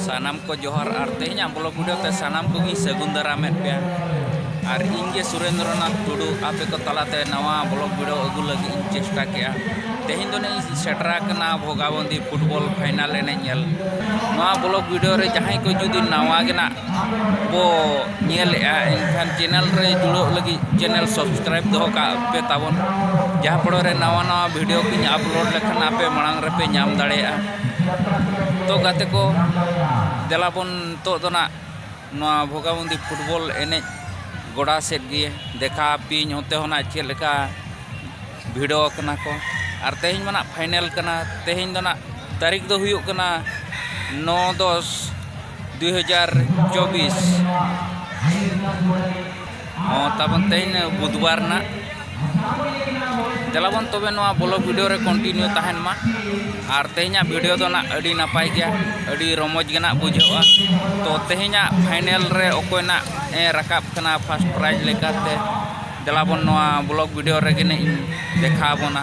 ᱥᱟᱱᱟᱢ ᱠᱚ ᱡᱚᱦᱟᱨ ᱟᱨ ᱛᱮᱦᱮᱧᱟᱜ ᱵᱞᱚᱜ ᱵᱷᱤᱰᱤᱭᱳ ᱛᱮ ᱥᱟᱱᱟᱢ ᱠᱚᱜᱮᱧ ᱥᱟᱹᱜᱩᱱ ᱫᱟᱨᱟᱢᱮᱫ ᱯᱮᱭᱟ ᱟᱨ ᱤᱧ ᱜᱮ ᱥᱩᱨᱮᱱᱫᱨᱚᱱᱟᱛᱷ ᱴᱩᱰᱩ ᱟᱯᱮ ᱠᱚ ᱛᱟᱞᱟᱛᱮ ᱱᱟᱣᱟ ᱵᱞᱚᱜ ᱵᱷᱤᱰᱤᱭᱳ ᱟᱹᱜᱩ ᱞᱟᱹᱜᱤᱫ ᱤᱧ ᱪᱮᱥᱴᱟ ᱠᱮᱜᱼᱟ ᱛᱮᱦᱮᱧ ᱫᱚ ᱤᱧ ᱥᱮᱴᱮᱨ ᱟᱠᱟᱱᱟ ᱵᱷᱚᱜᱟᱵᱚᱱᱫᱤ ᱯᱷᱩᱴᱵᱚᱞ ᱯᱷᱟᱭᱱᱟᱞ ᱮᱱᱮᱡ ᱧᱮᱞ ᱱᱚᱣᱟ ᱵᱞᱚᱜ ᱵᱷᱤᱰᱤᱭᱳ ᱨᱮ ᱡᱟᱦᱟᱸᱭ ᱠᱚ ᱡᱩᱫᱤ ᱱᱟᱣᱟ ᱜᱮ ᱱᱟᱜ ᱵᱚ ᱧᱮᱞᱮᱜᱼᱟ ᱮᱱᱠᱷᱟᱱ ᱪᱮᱱᱮᱞ ᱨᱮ ᱡᱩᱲᱟᱹᱜ ᱞᱟᱹᱜᱤᱫ ᱪᱮᱱᱮᱞ ᱥᱟᱵᱥᱠᱨᱟᱭᱤᱵᱽ ᱫᱚᱦᱚ ᱠᱟᱜ ᱯᱮ ᱛᱟᱵᱚᱱ ᱡᱟᱦᱟᱸ ᱯᱷᱚᱲᱚ ᱨᱮ ᱱᱟᱣᱟ ᱱᱟᱣᱟ ᱵᱷᱤᱰᱤᱭᱳ ᱠᱚᱧ ᱟᱯᱞᱳᱰ ᱞᱮᱠᱷᱟᱱ ᱟᱯᱮ ᱢᱟᱲᱟᱝ ᱨᱮᱯᱮ ᱧᱟᱢ ᱫᱟᱲᱮᱭᱟᱜᱼᱟ ᱛᱚ ᱜᱟᱛᱮ ᱠᱚ ᱫᱮᱞᱟ ᱵᱚᱱ ᱱᱤᱛᱚᱜ ᱫᱚ ᱱᱟᱜ ᱱᱚᱣᱟ ᱵᱷᱚᱜᱟᱵᱚᱱᱫᱤ ᱯᱷᱩᱴᱵᱚᱞ ᱮᱱᱮᱡ ᱜᱚᱰᱟ ᱥᱮᱫ ᱜᱮ ᱫᱮᱠᱷᱟᱣ ᱟᱯᱮᱭᱟᱹᱧ ᱚᱱᱛᱮ ᱦᱚᱸ ᱱᱟᱜ ᱪᱮᱫ ᱞᱮᱠᱟ ᱵᱷᱤᱲᱚ ᱠᱟᱱᱟ ᱠᱚ ᱟᱨ ᱛᱮᱦᱮᱧ ᱢᱟ ᱱᱟᱜ ᱯᱷᱟᱭᱱᱮᱞ ᱠᱟᱱᱟ ᱛᱮᱦᱮᱧ ᱫᱚ ᱱᱟᱜ ᱛᱟᱹᱨᱤᱠᱷ ᱫᱚ ᱦᱩᱭᱩᱜ ᱠᱟᱱᱟ ᱱᱚ ᱫᱚᱥ ᱫᱩᱭ ᱦᱟᱡᱟᱨ ᱪᱚᱵᱵᱤᱥ ᱦᱚᱸ ᱛᱟᱵᱚᱱ ᱛᱮᱦᱮᱧ ᱵᱩᱫᱷᱵᱟᱨ ᱨᱮᱱᱟᱜ ᱫᱮᱞᱟᱵᱚᱱ ᱛᱚᱵᱮ ᱱᱚᱣᱟ ᱵᱞᱚᱜ ᱵᱷᱤᱰᱤᱭᱳ ᱨᱮ ᱠᱚᱱᱴᱤᱱᱤᱭᱩ ᱛᱟᱦᱮᱱ ᱢᱟ ᱟᱨ ᱛᱮᱦᱮᱧᱟᱜ ᱵᱷᱤᱰᱤᱭᱳ ᱫᱚ ᱱᱟᱜ ᱟᱹᱰᱤ ᱱᱟᱯᱟᱭ ᱜᱮᱭᱟ ᱟᱹᱰᱤ ᱨᱚᱢᱚᱡᱽ ᱜᱮ ᱱᱟᱜ ᱵᱩᱡᱷᱟᱹᱜᱼᱟ ᱛᱚ ᱛᱮᱦᱮᱧᱟᱜ ᱯᱷᱟᱭᱱᱮᱞ ᱨᱮ ᱚᱠᱚᱭ ᱱᱟᱜ ᱮ ᱨᱟᱠᱟᱵ ᱠᱟᱱᱟ ᱯᱷᱟᱥᱴ ᱯᱨᱟᱭᱤᱡᱽ ᱞᱮᱠᱟᱛᱮ ᱫᱮᱞᱟᱵᱚᱱ ᱱᱚᱣᱟ ᱵᱞᱚᱜ ᱵᱷᱤᱰᱤᱭᱳ ᱨᱮᱜᱮ ᱱᱟᱜ ᱤᱧ ᱫᱮᱠᱷᱟᱣ ᱟᱵᱚᱱᱟ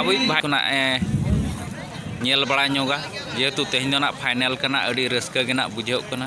ᱦᱟᱹᱵᱤᱡ ᱵᱷᱟᱭ ᱠᱷᱚᱱᱟᱜ ᱮ ᱧᱮᱞ ᱵᱟᱲᱟ ᱧᱚᱜᱟ ᱡᱮᱦᱮᱛᱩ ᱛᱮᱦᱮᱧ ᱫᱚ ᱱᱟᱜ ᱯᱷᱟᱭᱱᱮᱞ ᱠᱟᱱᱟ ᱟᱹᱰᱤ ᱨᱟᱹᱥᱠᱟᱹ ᱜᱮ ᱱᱟᱜ ᱵᱩᱡᱷᱟᱹᱜ ᱠᱟᱱᱟ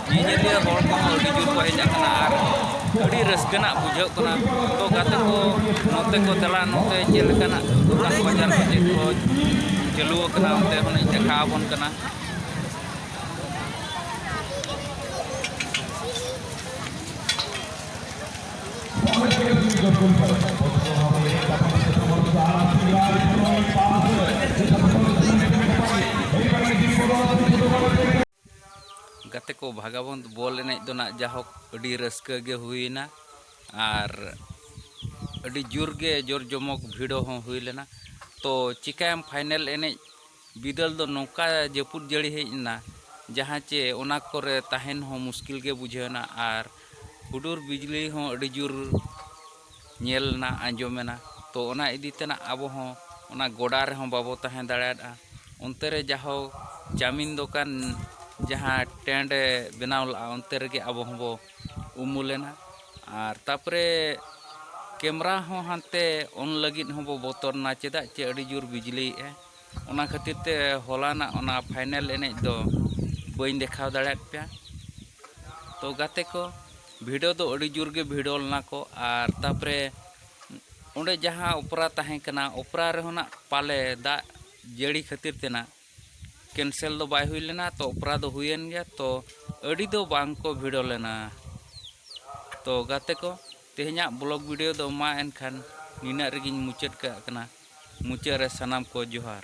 ᱧᱮᱧᱮᱞᱤᱭᱟᱹ ᱦᱚᱲ ᱠᱚᱦᱚᱸ ᱟᱹᱰᱤ ᱡᱳᱨ ᱠᱚ ᱦᱮᱡ ᱟᱠᱟᱱᱟ ᱟᱨ ᱟᱹᱰᱤ ᱨᱟᱹᱥᱠᱟᱹ ᱨᱮᱱᱟᱜ ᱵᱩᱡᱷᱟᱹᱜ ᱠᱟᱱᱟ ᱛᱚ ᱜᱟᱛᱮ ᱠᱚ ᱱᱚᱛᱮ ᱠᱚ ᱫᱮᱞᱟ ᱱᱚᱛᱮ ᱪᱮᱫ ᱞᱮᱠᱟᱱᱟᱜ ᱫᱚᱠᱟᱱ ᱵᱟᱡᱟᱨ ᱠᱚ ᱪᱮᱫ ᱠᱚ ᱪᱟᱹᱞᱩ ᱟᱠᱟᱱᱟ ᱚᱱᱛᱮ ᱦᱚᱸᱞᱤᱧ ᱫᱮᱠᱷᱟᱣ ᱟᱵᱚᱱ ᱠᱟᱱᱟ ᱜᱟᱛᱮ ᱠᱚ ᱵᱷᱟᱜᱟᱵᱚᱱᱫ ᱵᱚᱞ ᱮᱱᱮᱡ ᱫᱚ ᱱᱟᱜ ᱡᱟᱦᱳᱠ ᱟᱹᱰᱤ ᱨᱟᱹᱥᱠᱟᱹ ᱜᱮ ᱦᱩᱭᱮᱱᱟ ᱟᱨ ᱟᱹᱰᱤ ᱡᱳᱨ ᱜᱮ ᱡᱳᱨ ᱡᱚᱢᱚᱠ ᱵᱷᱤᱲᱚ ᱦᱚᱸ ᱦᱩᱭ ᱞᱮᱱᱟ ᱛᱚ ᱪᱤᱠᱟᱹᱭᱟᱢ ᱯᱷᱟᱭᱱᱮᱞ ᱮᱱᱮᱡ ᱵᱤᱫᱟᱹᱞ ᱫᱚ ᱱᱚᱝᱠᱟ ᱡᱟᱹᱯᱩᱫ ᱡᱟᱹᱲᱤ ᱦᱮᱡ ᱮᱱᱟ ᱡᱟᱦᱟᱸ ᱪᱮ ᱚᱱᱟ ᱠᱚᱨᱮ ᱛᱟᱦᱮᱱ ᱦᱚᱸ ᱢᱩᱥᱠᱤᱞ ᱜᱮ ᱵᱩᱡᱷᱟᱹᱣ ᱮᱱᱟ ᱟᱨ ᱦᱩᱰᱩᱨ ᱵᱤᱡᱽᱞᱤ ᱦᱚᱸ ᱟᱹᱰᱤ ᱡᱳᱨ ᱧᱮᱞ ᱮᱱᱟ ᱟᱸᱡᱚᱢ ᱮᱱᱟ ᱛᱚ ᱚᱱᱟ ᱤᱫᱤ ᱛᱮᱱᱟᱜ ᱟᱵᱚ ᱦᱚᱸ ᱚᱱᱟ ᱜᱚᱰᱟ ᱨᱮᱦᱚᱸ ᱵᱟᱵᱚ ᱛᱟᱦᱮᱸ ᱫᱟᱲᱮᱭᱟᱫᱼᱟ ᱚᱱᱛᱮ ᱨᱮ ᱡᱟᱦᱳ ᱪᱟᱣᱢᱤᱱ ᱫᱚᱠᱟᱱ ᱡᱟᱦᱟᱸ ᱴᱮᱱᱴ ᱮ ᱵᱮᱱᱟᱣ ᱞᱮᱫᱼᱟ ᱚᱱᱛᱮ ᱨᱮᱜᱮ ᱟᱵᱚ ᱦᱚᱸᱵᱚ ᱩᱢᱩᱞ ᱮᱱᱟ ᱟᱨ ᱛᱟᱨᱯᱚᱨᱮ ᱠᱮᱢᱮᱨᱟ ᱦᱚᱸ ᱦᱟᱱᱛᱮ ᱚᱱ ᱞᱟᱹᱜᱤᱫ ᱦᱚᱸᱵᱚ ᱵᱚᱛᱚᱨ ᱮᱱᱟ ᱪᱮᱫᱟᱜ ᱥᱮ ᱟᱹᱰᱤ ᱡᱳᱨ ᱵᱤᱡᱽᱞᱤᱭᱮᱫᱼᱟᱭ ᱚᱱᱟ ᱠᱷᱟᱹᱛᱤᱨ ᱛᱮ ᱦᱚᱞᱟᱱᱟᱜ ᱚᱱᱟ ᱯᱷᱟᱭᱱᱮᱞ ᱮᱱᱮᱡ ᱫᱚ ᱵᱟᱹᱧ ᱫᱮᱠᱷᱟᱣ ᱫᱟᱲᱮᱭᱟᱫ ᱯᱮᱭᱟ ᱛᱚ ᱜᱟᱛᱮ ᱠᱚ ᱵᱷᱤᱲᱚ ᱫᱚ ᱟᱹᱰᱤ ᱡᱳᱨ ᱜᱮ ᱵᱷᱤᱲᱚ ᱞᱮᱱᱟ ᱠᱚ ᱟᱨ ᱛᱟᱯᱚᱨᱮ ᱚᱸᱰᱮ ᱡᱟᱦᱟᱸ ᱚᱯᱮᱨᱟ ᱛᱟᱦᱮᱸ ᱠᱟᱱᱟ ᱚᱯᱮᱨᱟ ᱨᱮᱦᱚᱸ ᱱᱟᱜ ᱯᱟᱞᱮ ᱫᱟᱜ ᱡᱟᱹᱲᱤ ᱠᱷᱟᱹᱛᱤᱨ ᱛᱮ ᱱᱟᱜ ᱠᱮᱱᱥᱮᱞ ᱫᱚ ᱵᱟᱭ ᱦᱩᱭ ᱞᱮᱱᱟ ᱛᱚ ᱚᱯᱮᱨᱟ ᱫᱚ ᱦᱩᱭᱮᱱ ᱜᱮᱭᱟ ᱛᱚ ᱟᱹᱰᱤ ᱫᱚ ᱵᱟᱝ ᱠᱚ ᱵᱷᱤᱲᱚ ᱞᱮᱱᱟ ᱛᱚ ᱜᱟᱛᱮ ᱠᱚ ᱛᱮᱦᱮᱧᱟᱜ ᱵᱞᱚᱜᱽ ᱵᱷᱤᱰᱤᱭᱳ ᱫᱚ ᱢᱟ ᱮᱱᱠᱷᱟᱱ ᱱᱤᱱᱟᱹᱜ ᱨᱮᱜᱮᱧ ᱢᱩᱪᱟᱹᱫ ᱠᱟᱜ ᱠᱟᱱᱟ ᱢᱩᱪᱟᱹᱫ ᱨᱮ ᱥᱟᱱᱟᱢ ᱠᱚ ᱡᱚᱦᱟᱨ᱾